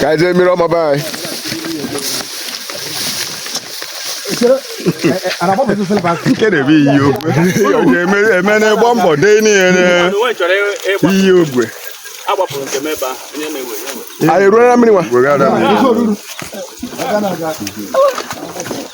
ka anyị jee mmiri ọma be anyị nke n'ebe iyi ogwe onye eme n'ịgba mbọ dee n'ihe iyi ogwe anyị ruo na mmiri nwa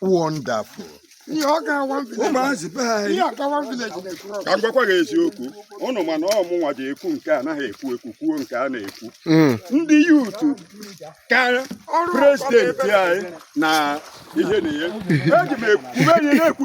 wonderful ihe ọ ga-awa ụmụazị be anyị ihe agawa village na-ekwuru ka m gwakwa gị eziokwu ụnụ ma na ọ mụnwa ji ekwu nke anaghị ekwu ekwu kwuo nke a na-ekwu ndị YouTube ka president anyị na ihe na ihe eji m ekwube ihe na-ekwu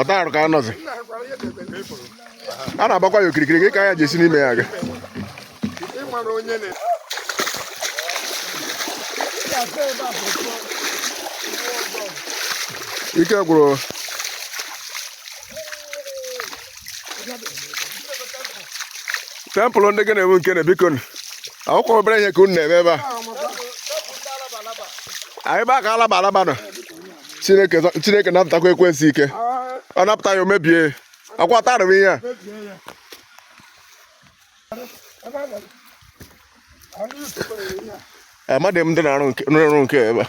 ọta arụ ka a nọzi a na-agbakwa ya okirikiri dịka anyị ji esi n'ime ya aga ike gwụrụ temple ndị gị na-ewu nke na biko akwụkwọ obere ihe ka unu na-eme ebe a anyị ba ka alaba alaba nọ chineke napụtakwa ekwensu ike ọ napụta ya o mebie akwa tarịwa ihe a amadị m ndị na-arụ nke ebe a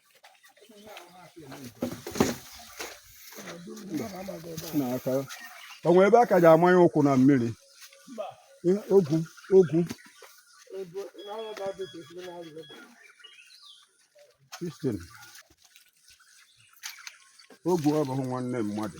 o nwe ebe a ka ji amanye ụkwụ na mmiri ogwu ogwu Christian ogwu abụghị nwanne mmadụ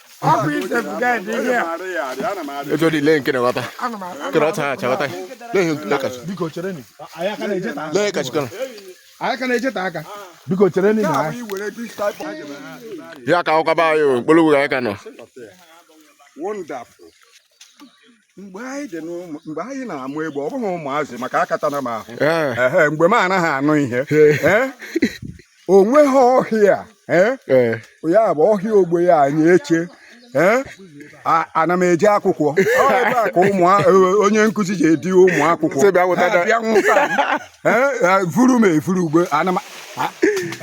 etu dị lee nke na-aghọta kere ọta ha achaghọta lee kachi biko chere ni lee kachi kana anyị ka na-echeta aka biko chere ni na ya ka ọkaba anyị mkpụrụ ugwu anyị ka nọ wonderful mgbe anyị dị n'ụmụ mgbe anyị na-amụ egbe ọ bụghị ụmụazị maka akatana m ahụ Eh, Ehe, mgbe m anaghị anụ ihe Eh? o nweghị ọhịa eh? eh. ya bụ ọhịa ogbe ya anyị eche eh? A- ana m eje akwụkwọ Ọ ebe a ka ụmụ a- onye nkụzi ji edi ụmụ akwụkwọ Sị bịa weta Ha da- bịa nwụta m. vuru m evuru ugbo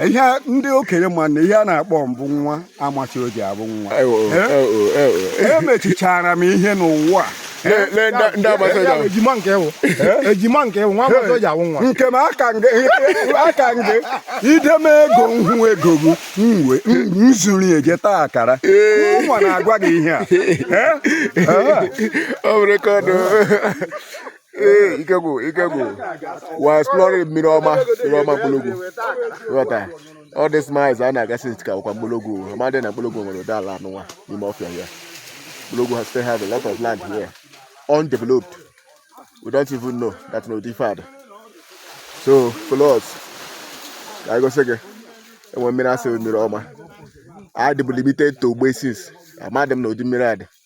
ihe ndị okenye ma na ihe a na-akpọ m bụ nwa amachi o ji abụ nwa emechichara m ihe n'ụwa ejima nke wụ ejima nke wụ nwa agbata o ji awụ nwa nke m aka nge ideme ego nhụ ego gị nwe nzuri eje taa akara ụmụ na-agwa gị ihe a ọ bụrụ ka ọdụ ee ike gwụ ike gwụ we are exploring mmiri ọma mmiri ọma mkpologwu ghọta all these miles a na-aga since ka ọkwa mkpologwu amadị na mkpologwu nwere ụdị ala anụnwa n'ime ọfịa ya mkpologwu has still have a lot of land here undeveloped we don't even know that no differed so follow us ka anyị gosi gị ebe mmiri a sị mmiri ọma adịbụ limited to ogbe since amadị m na ụdị mmiri a dị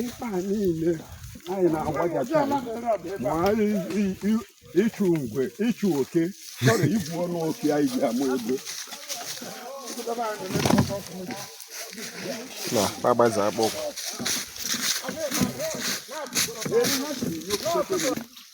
ikpa niile anyị na-agbajacha ma anyị i- i- ịchụ ngwe ịchụ oke chọrọ igwu ọnụ oke anyị ji ama ego na agbaze akpọkụ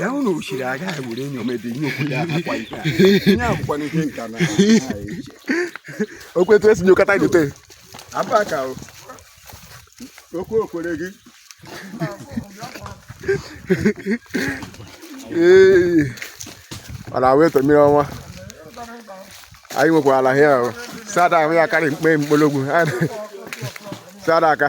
ya unu ochiri agaghị were enyo mebe ihe okwute akwụkwọ ihe ihe akwụkwọ n'ihe nka na okwetu esi nyokọta gote abụọ ka okwu okwere gị ee ọ na-awụ eto mmiri ọnwa anyị nwekwara ala hịa sada ahụ ya karị mkpe mkpologwu sada aka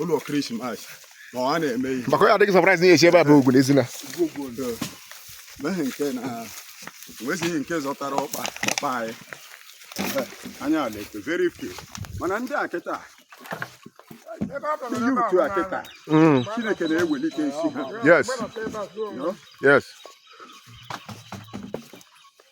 ụlọ krismas ma ọ na-eme ihe maka ya adịghị surprise na esi ebe a bụ ogwu n'ezi na meghị nke na nwezighị nke zọtara ọkpa ọkpa anyị anya ala eto very few mana ndị a kịta ndị youth a kịta mm. chineke na-ewelite isi ha yes yes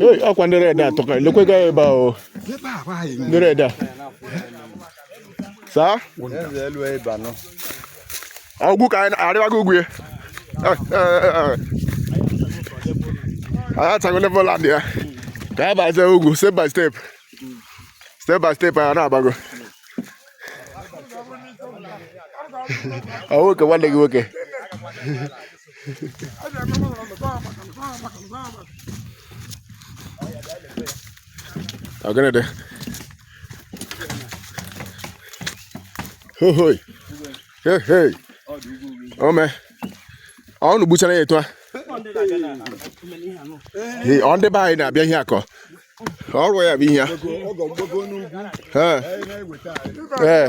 Hey, ọkwa ndị red a tọka lekwe gaa ebe a o Ebe a bụ anyị ndị nwe. red a saa Eze elu ebe anọ. ọgwụ ka anyị arịwago ugwu ya anyị atago level land ya ka anyị bazie ugwu step by step step by step anyị na-agbago ọ nwoke nwanne gị nwoke Ọ gịnị dị? Hohoi. Hey, hey. Ome. Ọ unu gbuchara ya etu a? Ee, Ọ ndị be anyị na-abịa ihe akọ. Ọrụ ya bụ ihe a. Ee.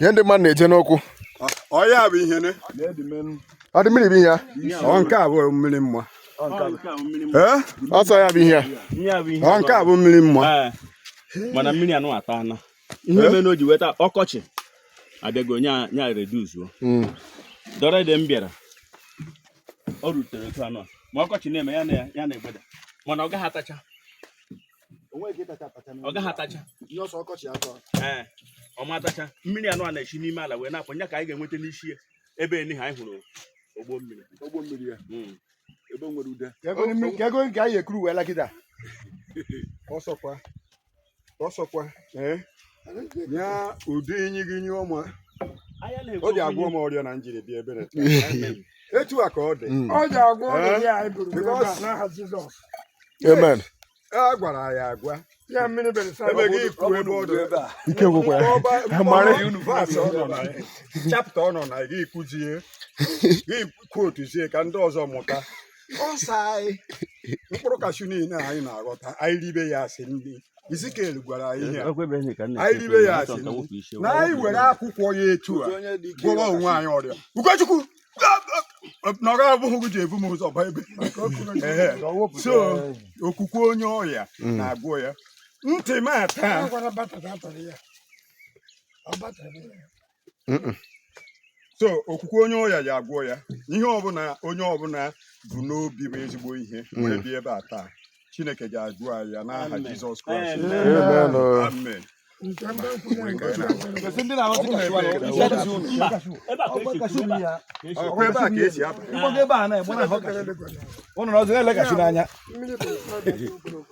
ihe ndị mmadụ na-eje n'ụkwụ ọ ya bụ ihe ne ọ dị mmiri bụ ihe ya ọ nke a bụ mmiri mma ee ọ sọ ya bụ ihe ya ọ nke a bụ mmiri mma mana mmiri anụ ata ana ihe mere na o ji weta ọkọchị abịago nya nya reduce-uo Mm. the other day m bịara o rutere otu anọ ma ọkọchị na-eme ya na ya na-egbeda mana ọ gaghị atacha o nweghị ike ịtacha atacha ọ gaghị atacha ihe ọsọ ọkọchị atọ ee ọ ma atacha mmiri anụ a na-eshi n'ime ala wee na-apụ nya ka anyị ga-enweta n'isi ya ebe eni ha anyị hụrụ ogbo mmiri ogbo mmiri ya hmm. ebe nwere ude ka ego nke anyị ekuru wee lakịta ọ sọkwa ọ sọkwa ee ya ọ dị inyi gị ṅụọ ma o ji agwọ m ọrịa na m jiri bịa ebe a etu a ka ọ dị mm. ọ ji agwọ ọrịa ya anyị buru n'aha Jizọs amen a gwara ya agwa ya mmiri emeghị ikwu ebe ọ dị ebe a ike gwụkwa ya mara verse ọ nọ na ya chapter ọ nọ na ya gị kwuzie gị kwotuzie ka ndị ọzọ mụta ọsa anyị mkpụrụ kashu niile anyị na-aghọta anyị ribe ya as nri Izikiel gwara anyị ihe anyị ribe ya as nri na anyị were akwụkwọ ya etu a gwọrọ onwe anyị ọrịa ugochukwu na ọ bụghị gị ji ebu m ụzọ ba ebe sọ okwukwe onye ọya mm. na-agwọ ya ntị m ata sọ okwukwe onye ọya ya-agwọ ya ihe ọbụla onye ọbụla bu n'obi bụ ezigbo ihe mm. wee bịa ebe a taa chineke ga-agwọ anyị ya n'aha jizọs kraịst amen ebe a ka e si aba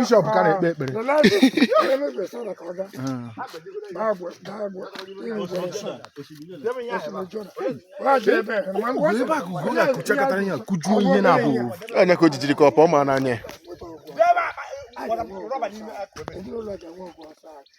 bishọp ka na-ekpe ekpere ebe a ka ugo ga-akụchakọtara ya kụjuo ihe na-abụghị onye ka o jijiri ka ọ pụọ m n'anya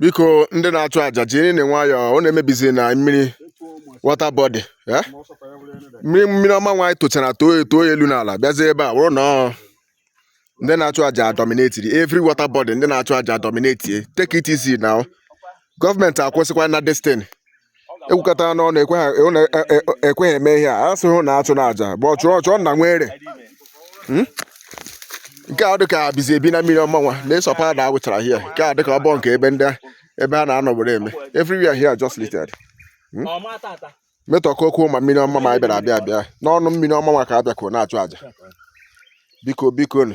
biko ndị na-achụ aja jirinụ nwayọọ ọ na-emebizi na mmiri water body eh? mmiri mmiri ọma nwaanyị tochara too eto elu n'ala bịazie ebe a wụrụ na ndị na-achụ aja dominate-iri every water body ndị na-achụ aja dominate take it easy now gọọmenti akwụsịkwana this thing ekwukọta n'ọnụ ekweghị eme ihe a asị hụ na achụ na aja bụ ọchụ ọchụ na nwere hmm? nke a dịka bizi ebi na mmiri ọma nwa na-esọpa ada awụchara hia nke a dịka ọbọ nke ebe ndị ebe ha na-anọ were eme everywhere here just littered hmm? metọkọ okwu ma mmiri ọma ma bịara abịa abịa n'ọnụ mmiri ọma ma ka a bịakwuo na-achụ aja biko biko nụ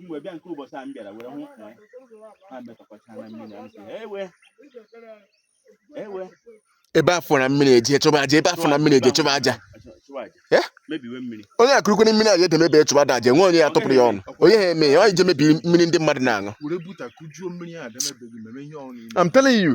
mgbe bịa nke ụbọchị a m bịara were hụ na ha metọkọcha na mmiri a m sị ewe ewe ebe a fụrụ mmiri e je chụba aja ebe a fụrụ mmiri e je chụba aja eh? onye akụrụkwere mmiri aja edemebe chụba da aja nwe onye ya tụpụrụ ya ọnụ onye ihe mee ya ọ je mebi mmiri ndị mmadụ na-aṅụ I'm telling you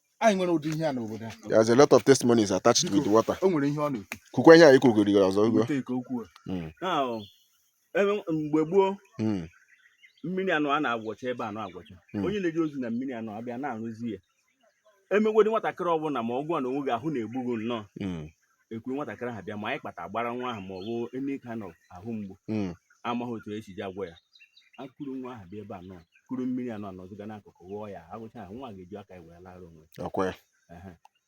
anyị nwere ụdị ihe a n'obodo a there's a lot of testimonies attached with water o nwere ihe ọ na-ekwu kwukwa ihe a ikwugoro ọzọ ugbu Weta ike okwu a. Mm. Now, ebe mgbe gboo Mm. mmiri anọ a na-agwọcha ebe anọ agwọcha Mm. onye na-eje ozi na mmiri anọ abịa na-arụzia emegwedị nwatakịrị ọbụla ma ọgwụ a na o nweghị ahụ na-egbu gị nnọọ Mm. e kuru nwatakịrị ahụ bịa ma anyị kpata gbara nwa ahụ ma ọ bụ any kind of ahụ mgbu mm. amaghị otu esi ji agwọ ya e kuru nwa ahụ bịa ebe a nọ kuru mmiri anọ a nọziga n'akụkụ ghụọ ya aghụcha ahụ nwa ga-eji aka ya wee lara onwe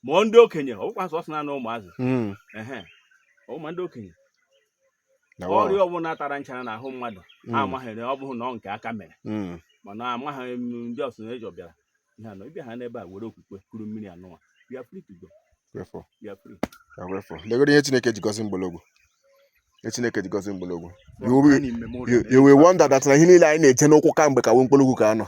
ma ndị okenye ọ bụkwa sọsọ na ụmụazị mm. ma ndị okenye ọrịa ọbụla tara nchara n'ahụ mmadụ hmm. amaghịrị ọ bụghị na ọ nke aka mere hmm. mana amaghị m ndị ọsụ na eji ọbịara ihe anọ ị bịaha n'ebe a were okwukwe kuru mmiri anụwa bịa free to go legoro ihe Chineke ji gọzie Mkpologwu ihe Chineke ji gọzie Mkpologwu you will wonder that na ihe niile anyị na-eje n'ụkwụ kamgbe ka nwe Mkpologwu ka a nọ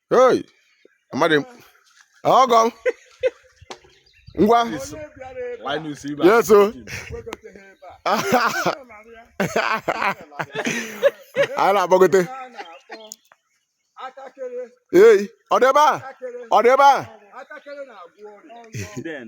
Hey, amadị m. Ọgọ m. Ngwa. Linus Ibe. Yes, o. Anyị na-agbagote. Hey, ọ dị ebe a? Ọ dị ebe a? Then.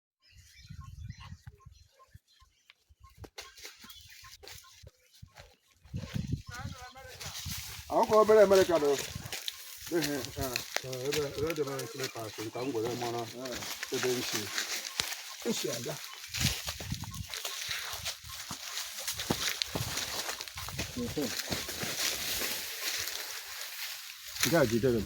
akwụkwọ obere amerịka bụ ihe ebe dị mara nkiri paakị nka m gwere mara ebe nsi nsi aga nke a jidere m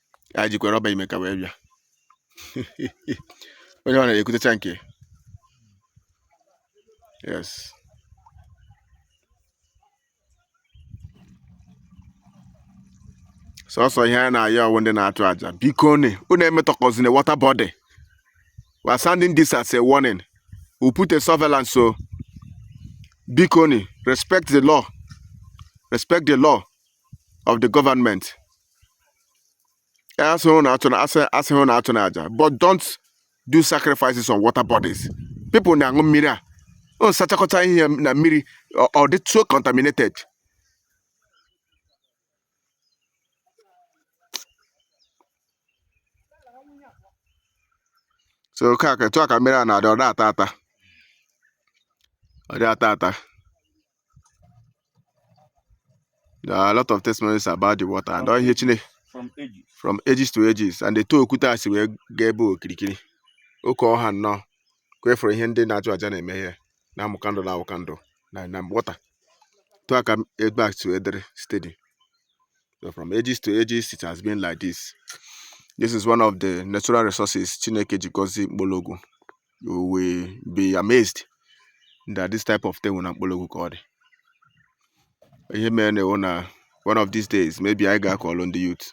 ya jikwa rọba ime ka wee bịa onye ọ na-ekutecha nke yes sọsọ ihe a na-ayọ ọ wụ ndị na-achụ aja bikonụ unu emetọkọzina water body we are sending this as a warning we put a surveillance so bikonụ respect the law respect the law of the government Asịghị m na a-, asịghị m na achụna aja. But don't do sacrifices on water bodies. People na-aṅụ mmiri a. Unu sachakọta ihe na mmiri ọ dị so contaminated. So ka ka etu a ka mmiri a na-adị ọ dị ata ata. Ọ dị ata ata. There are a lot of testimonies about the water and ihe Chineke from ages. from ages to ages and etu okwute a si wee gaa ebe okirikiri oke ọha nnọọ ka efere ihe ndị na-achụ aja na-eme ihe na-amụ candle na-awụ candle na na water etu a ka ebe a si wee dịrị steady so from ages to ages it has been like this this is one of the natural resources Chineke ji gọzie Mkpologwu you will be amazed that this type of thing dị na Mkpologwu ka ọ dị. Ihe mere na na one of these days maybe anyị ga call on the youth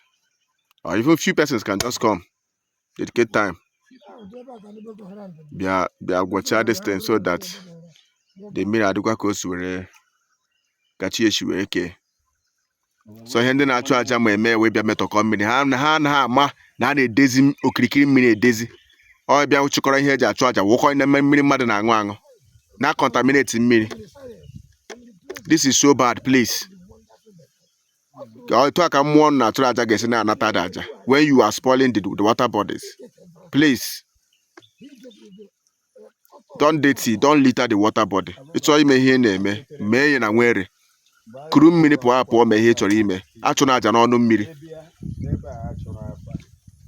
or even few persons can just come dedicate time bịa bịa gwọchaa this thing so that the mmiri adịkwa ka o si were ka chi si wee kee so ihe ndị na-achụ aja na-eme wee bịa metọkọ mmiri ha na ha anaghị ama na a na-edezi m- okirikiri mmiri edezi ọ bịa chịkọrọ ihe eji achụ aja wụkọ na mme- mmiri mmadụ na-aṅụ aṅụ na contaminate mmiri this is so bad please Ka ọ- etu a ka mmụọ unu na-achụrụ aja ga-esi na-anata the aja when you are spoiling the, the water bodies please don't dirty don't litter the water body ị chọọ ime ihe ị na-eme mee ya na nwere kuru mmiri pụọ apụọ mee ihe ị chọrọ ime achụna aja n'ọnụ mmiri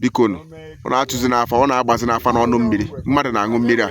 biko nụ unu achụzina afa unu agbazina afa n'ọnụ mmiri mmadụ na-aṅụ mmiri a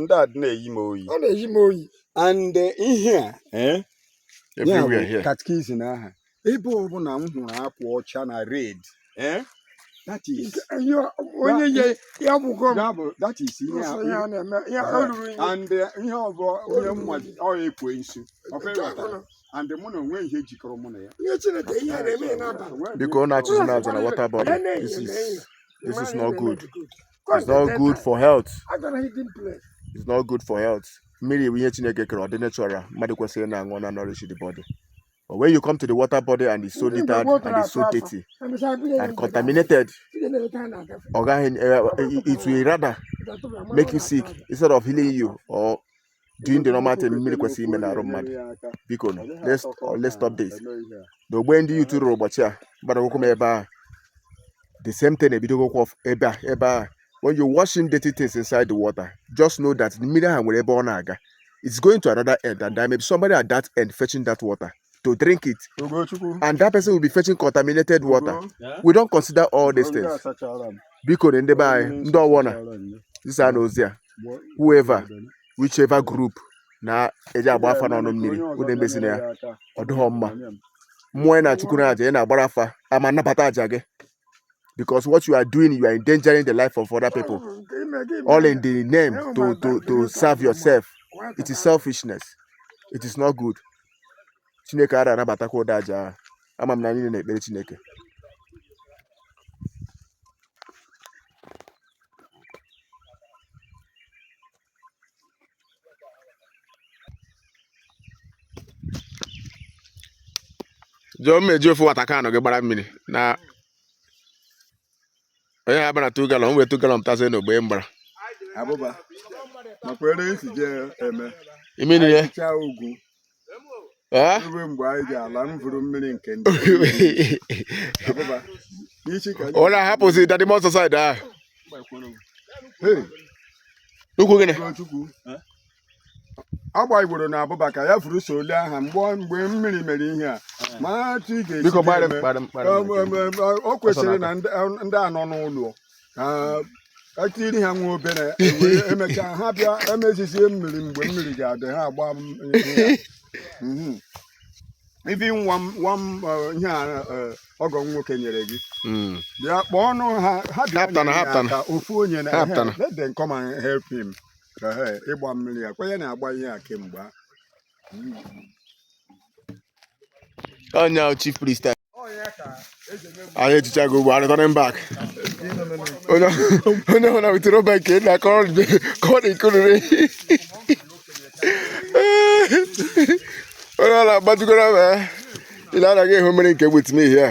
ndị a na-eyi m oyi ọ na-eyi m oyi and eh, ihe a eh, ya bụ catechism aha ebe ọbụla m hụrụ akwa ọcha na red eh, that is onye ye ya bụgo that is ihe and ihe ọ bụ onye mma ọ ekwensu and mụ na o nweghị ihe jikọrọ mụ na ya biko unu achụzina aja na water body this is not good it's not good for health it's not good for health mmiri bụ ihe chineke kere ọ dị natural mmadụ kwesịrị na-aṅụ na nourish the body but when you come to the water body and it's so littered and it's so dirty and contaminated ọ gaghị eh, eh, it will rather make you sick instead of healing you or doing the normal thing mmiri kwesịrị ime n'arụ mmadụ biko nụ let's uh, let's stop this na ogbe ndị youth rụrụ ụbọchị a gbara ụkwụ m ebe a the same thing ebidogokwa ọf- ebe a ebe a when you're washing dirty things inside the water just know that mmiri ahụ nwere ebe ọ na-aga it's going to another end and there may be somebody at that end fetching that water to drink it and that person will be fetching contaminated water we don't consider all these things biko nụ ndị be anyị zisanụ ozi a whoever whichever group na-eje agba afa n'ọnụ mmiri unu emezina ya ọ dịghọ mma mmụọ ị na-achụkwu na aja ị na-agbara afa ama nabata aja gị because what you are doing you are endangering the life of other people all in the name to to to serve yourself it is selfishness it is not good chineke ara anabatakwa ụdị aja ahụ ama m na anyị na-ekpere chineke jụọ mmeji ofu water can gị gbara mmiri na onye ha bara 2 galọn wee 2 galọn pụtazie n'ogbe mgbara abụba makwa ere esi je eme ime niile chaa ugwu ruo mgbe anyị ji ala m vuru mmiri nke ndị abụba n'isi ka ọ na-ahapụzi dadị mọ so side ahụ Hey, n'ukwu gịnị Chukwu ọ gbagburu na abụba ka ya furu so ole aha mgbe mmiri mere ihe a ma otu ị ga-esi Biko gbara. Em, em, em, o kwesịrị na ndị ndị a nọ n'ụlọ ka etiri ha nwa obere emechaa ha bịa emezizie mmiri mgbe mmiri ga-adị ha agba m ihe a. ibi nwa m nwa m eh, ihe a eh, ọgọ m nwoke nyere gị bịa kpọọ ọnụ ha ha bịa nyere ya aka, ofu onye na let them come and help him ịgba mmiri ya kwenye na-agba ihe a kemgbe a onye chief priest anyị ejichago ugbo returning back onye ọhụrụ na wetara obe nke na ka ọ na-ekorere onye ọ na-agbajugoro ma i lee anya ị ga-ahụ mmiri nke gbutimihi a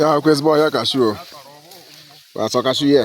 ya akwa ezigbo ọhịa kashu o asọ kashu ya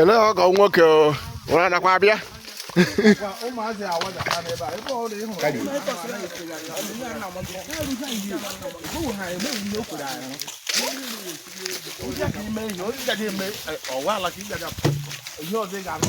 ele ọgọ nwoke ụra nakwa abịa ihe ọzọ ị ga-anụ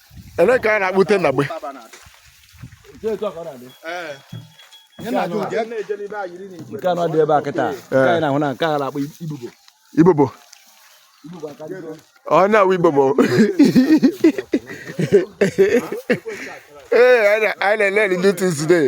ele ka a na-akpụte na gbe nke anọ dị ebe a kịta nke anyị na-ahụ na nke a na-akpọ ibubo ibobo ọ na-awụ ibobo I learn new things today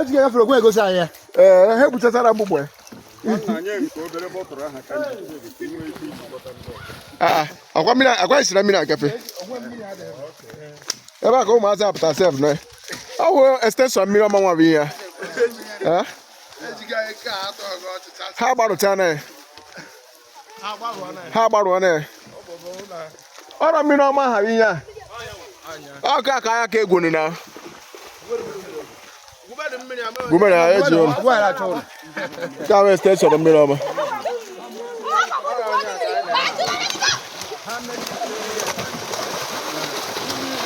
Ejike gafere ogwe egosi anyị ya ee ha ekpuchachara mgbugbo ya Aa, akwa mmiri akwa isira mmiri agafe ebe a ka ụmụazị apụta sef na ọ bụ extension mmiri ọma nwa bụ ihe ya Ee? ha gbarụchana ya ha agbarụọna ya ọrọ mmiri ọma ha ihe a ọka ka anya ka egwuru na gumere ha eji ụlọ ka wee extension mmiri ọma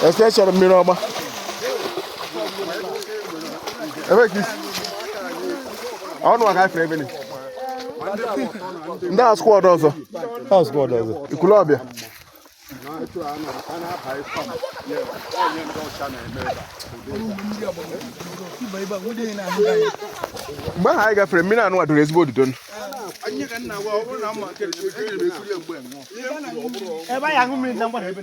extension mmiri ọma ebe ka isi ọnụ aka ifere ebe ndị a squad ọzọ ikulu ọbịa mgbe ahụ anyị gafere mmiri anụ a doro ezigbo odudo ebe anyị aṅụ mmiri na mgbada ebe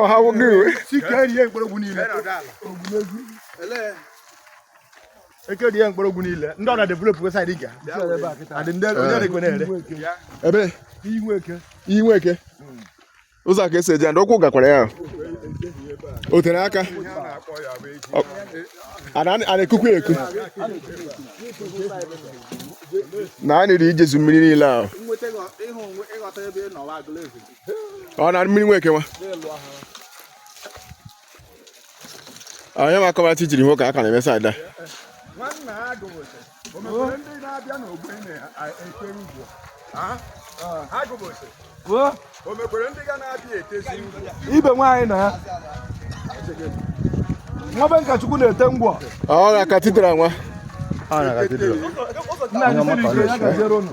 ọha nwoke iwe eke dị ya mkpọrọgwụ niile ndị ọ na-develop website dị ga adị ndị onye na-ekwe na-ere ebe iyi Nweke ụzọ ka esi eje ndị ụkwụ gakwara ya o tere aka a na-ekukwu eku na a niri ijezu mmiri niile ahụ ọ na mmiri Nweke nwa onye ma akọbara chi jiri nwoke aka na-eme side ebe nwaanyị na ya nwa be Nkachukwu na-ete ngwọ ọ na katidral nwa nna gị siri ike ya gaziere ụnụ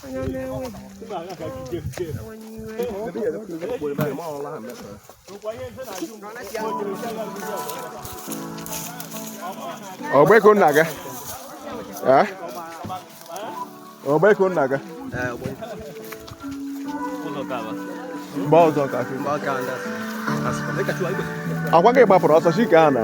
ọgbeko nna gị Eh? ọgbeko nna gị mgbe ọzọ ka ọ kwa gị gbapụrụ ọsọ sị ka a na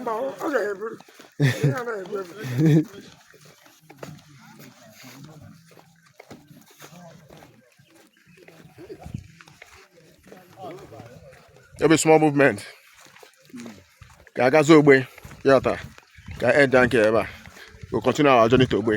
mba ọ ọ ga-eburu ihe a na-ebu ebu ebe small movement ka a gazie ogbe ya taa ka end nke ebe a we continue our journey to ogbe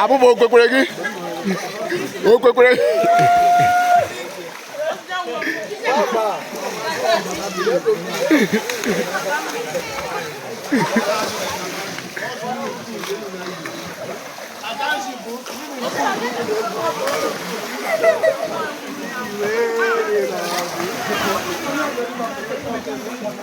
abụba o kwekwere gị o kwekwere gị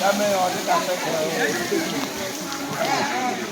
Dame, ahorita,